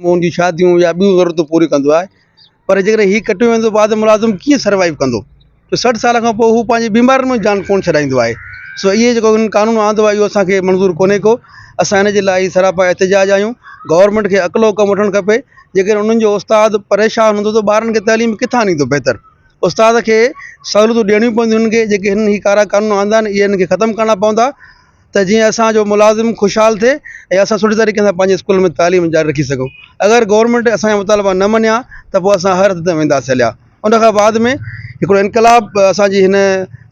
مون جون شاديون يا ٻيون ضرورتون پوريون ڪندو آهي پر جيڪڏهن هي ڪٽيو ويندو ته بعد ۾ ملازم ڪيئن سروائيو ڪندو جو سٺ سال کان پوء هو پنهنجي بيمارين ۾ جان ڪونه ڇڏائيندو آهي سو اهي جيڪو هن قانون آندو آهي اهو اسانکي منظور ڪونهي ڪو اسان هن جي لاء هي سراپا احتجاج آهيون گورنمينٽ کي عقل حڪم وٺڻ کپي جيڪڏهن انهن جو استاد پريشان هوندو ته ٻارن کي تعليم ڪٿان ڏيندو بهتر استاد کي سهولتون ڏيڻيون پونديون هنن کي جيڪي هنن هي ڪارا قانون آندا آهن اهي هنن کي ختم ڪرڻا پوندا ته جيئن اسانجو ملازم خوشحال ٿئي ۽ اسان سٺي طريقي سان پنهنجي اسڪول ۾ تعليم جاري رکي سگهون اگر گورنمينٽ اسانجا مطالبا نه مڃيا ته پوء اسان هر حد تائين وينداسين هليا ان کان بعد ۾ هڪڙو انقلاب اسانجي هن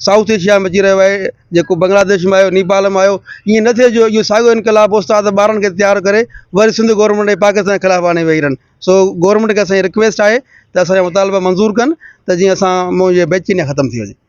سائوٿ ايشيا ۾ اچي رهيو آهي جيڪو بنگلاديش ۾ آيو نيپال ۾ آيو ائين نه ٿئي جو اهو ساڳيو انقلاب استاد ٻارن کي تيار ڪري وري سنڌ گورنمينٽ ۽ پاڪستان جي خلاف آڻي ويهي رهن سو گورنمينٽ کي اسانجي رڪويسٽ آهي ته اسانجا مطالبا منظور ڪن ته جيئن اسان مون جي بي چينيا ختم ٿي وڃي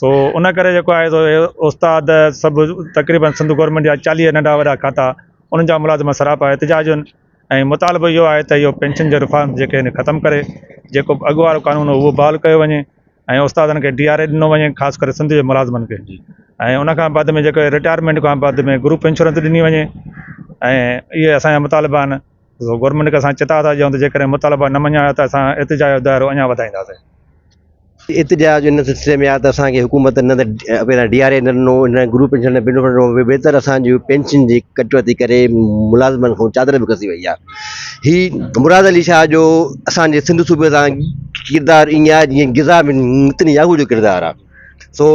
سو ان ڪري جيڪو آهي سو استاد سڀ تقريبن سنڌ گورنمينٽ جا چاليهه ننڍا وڏا کاتا انهن جا ملازم سراپا احتجاج آهن ۽ مطالبو اهو آهي ته اهو پينشن جو رفارم جيڪي آهن ختم ڪري جيڪو به اڳ وارو قانون هو اهو بحال ڪيو وڃي ۽ استادن کي ڊي آر اي ڏنو وڃي خاص ڪري سنڌ جي ملازمن کي ۽ ان کان بعد ۾ جيڪو رٽائرمينٽ کان بعد ۾ گروپ انشورنس ڏني وڃي ۽ اهي اسانجا مطالبا آهن گورنمينٽ کي اسان چتاء ٿا ڏيون ته جيڪڏهن مطالبا نه مڃيا ويا ته اسان ارتجاع جو دائرو اڃا وڌائينداسين. ارتجاع جو ان سلسلي ۾ آ ته اسان کي حڪومت نه ته پهريان ڊي آر اي نه ڏنو نه گروپ پينشن نه بنڊ ڏنو ويتر اسان جي پينشن جي ڪٽوتي ڪري ملازمن کان چادر به کسي وئي آ. هي مراد علي شاهه جو اسان جي سنڌ صوبي سان ڪردار ائين آ جيئن غذا ۾ نتن ياهو جو ڪردار آ سو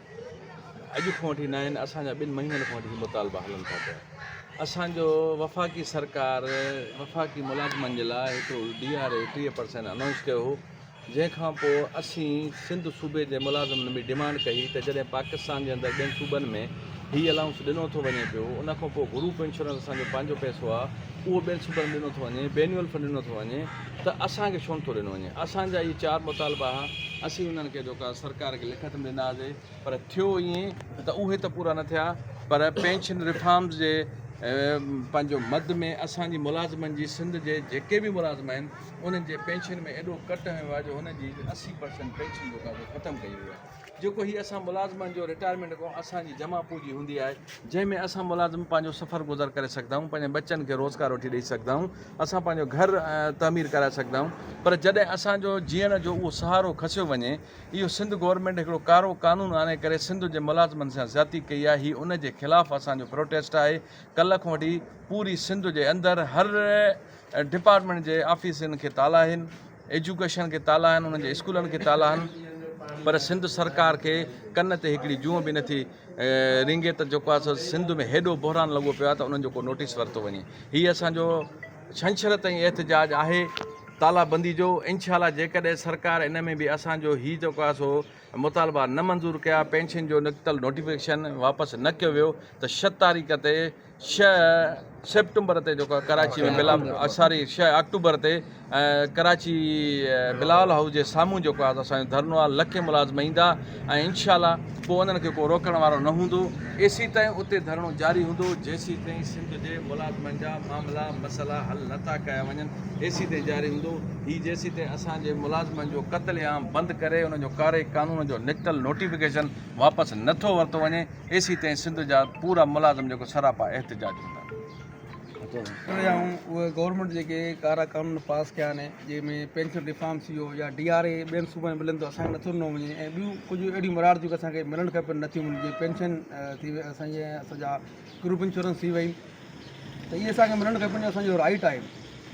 اڄ کان وٺي ناهن اسان جا ٻن مهينن کان وٺي هي مطالبا هلن ٿا پيا اسان جو وفاقي سرڪار وفاقي ملازمن جي لاء هڪڙو ڊي آر اي ٽيهه پرسينٽ انائونس ڪيو هو جنهن کان پوء اسين سنڌ صوبي جي ملازمن به ڊيمانڊ ڪئي ته جڏهن پاڪستان جي اندر ٻين صوبن ۾ هي الائونس ڏنو ٿو وڃي پيو ان کان پوء گروپ انشورنس اسان جو پنهنجو پئسو آهي اهو ٻين صوبن ۾ ڏنو ٿو وڃي بينيول فنڊ ڏنو ٿو وڃي ته اسان کي ڇو نٿو ڏنو وڃي اسان جا اهي چار مطالبا ها اسين انهن کي جيڪو آهي سرڪار کي لکت ۾ ڏنا هئاسي پر ٿيو ائين ته اهي ته پورا نه ٿيا پر پينشن ريفارمز جي پنهنجو مد ۾ اسان جي ملازمن جي سنڌ جي جيڪي به ملازم آهن انهن جي پينشن ۾ ايڏو ڪٽ هنيو آهي جو هن جي اسي پرسنٽ پينشن جيڪا سو ختم ڪئي وئي آهي جيڪو هي اسان ملازمن جو رٽائرمينٽ کان اسان جي جمع پونجي هوندي آهي جنهن ۾ اسان ملازم پنهنجو سفر گذر ڪري سگهندا آهيون پنهنجن ٻچن کي روزگار وٺي ڏئي سگهندا آهيون اسان پنهنجو گهر تعمير ڪرائي سگهندا آهيون پر جڏهن اسان جو جيئڻ جو اهو سهارو کسيو وڃي اهو سنڌ گورنمينٽ هڪڙو ڪارو قانون آڻي ڪري سنڌ جي ملازمن سان زيادتي ڪئي آهي هي ان جي خلاف اسان جو پروٽيسٽ آهي ڪلهه کان وٺي پوري سنڌ جي اندر هر ڊپارٽمينٽ جي آفيسن کي تالا آهن ايجوڪيشن کي تالا آهن انهن جي اسڪولن کي تالا آهن پر سنڌ سرڪار کي ڪن تي هڪڙي جونء به نٿي رينگي ته جيڪو آهي سو سنڌ ۾ هيڏو بحران لڳو پيو آهي ته انهن جو ڪو نوٽيس ورتو وڃي هي اسان جو ڇنڇر تائين احتجاج آهي تالا بندي جو انشاء الله جيڪڏهن سرڪار ان ۾ به اسان جو هي جيڪو آهي سو مطالبا نه منظور ڪيا پينشن جو نڪتل نوٽيفڪيشن واپس نه ڪيو ويو ته شت تاريخ تي شھ سيپٽمبر تي جيڪو ڪراچي ۾ بلا ساري شھ آڪٽوبر تي ڪراچي بلاول هائوس جي سامهون جيڪو آهي اسان جو ڌرنو آهي لکين ملازم ايندا ۽ انشاء الله پوء انهن کي ڪو روڪڻ وارو نه هوندو ايسي تائين اتي ڌرڻو جاري هوندو جيسي تائين سنڌ جي ملازمن جا معاملا مسئلا حل نٿا ڪيا وڃن ايسي تائين جاري هوندو هي جيسي تائين اسان جي ملازمن جو قتل عام بند ڪري انهن جو ڪاري قانون جو نڪتل نوٽيفڪيشن واپس نٿو ورتو وڃي اي سي تائين سنڌ جا پورا ملازم جيڪو سراپا احتجاج ڪندا. اهي گورنمينٽ جيڪي ڪارا قانون پاس ڪيا آهن جنهن ۾ پينشن ريفارم ٿي ويو يا ڊي آر اي ٻين صوبن ۾ ملندو اسان کي نٿو ڏنو وڃي ۽ ٻيون ڪجهه اهڙيون مراعات جيڪو اسان کي ملڻ کپن نٿيون ملن جيئن پينشن ٿي وئي اسان جي اسان جا گروپ انشورنس ٿي وئي ته اهي اسان کي ملڻ کپن جو اسانجو رائيٽ آهي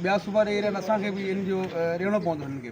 ٻيا صوبا ڏئي رهيا آهن اسان کي بي ان جو ڏيڻو پوندو هنن کي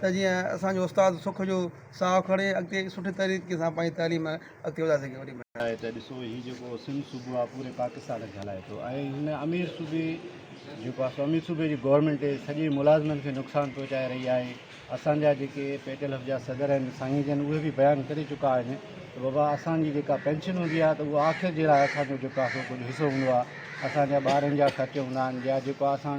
ته جيئن اسان جو استاد سک جو ساهه کڻي اڳتي سٺي طريقي سان پنهنجي تعليم اڳتي وڌائي سگهي. وڏي مهرباني. آهي ته ڏسو هي جيڪو سنڌ صوبو آهي پوري پاڪستان کي هلائي ٿو ۽ هن امير صوبي جيڪو آهي سو امير صوبي جي گورنمينٽ سڄي ملازمن کي نقصان پهچائي رهي آهي اسان جا جيڪي پي ٽي ايل جا صدر آهن سائين جن اهي به بيان ڪري چڪا آهن ته بابا اسان جي جيڪا پينشن هوندي آهي ته اهو آخر جي لاء اسان جو جيڪو آهي سو ڪجهه حصو هوندو آهي اسان جا ٻارن جا خرچ هوندا آهن يا جيڪو آهي اسان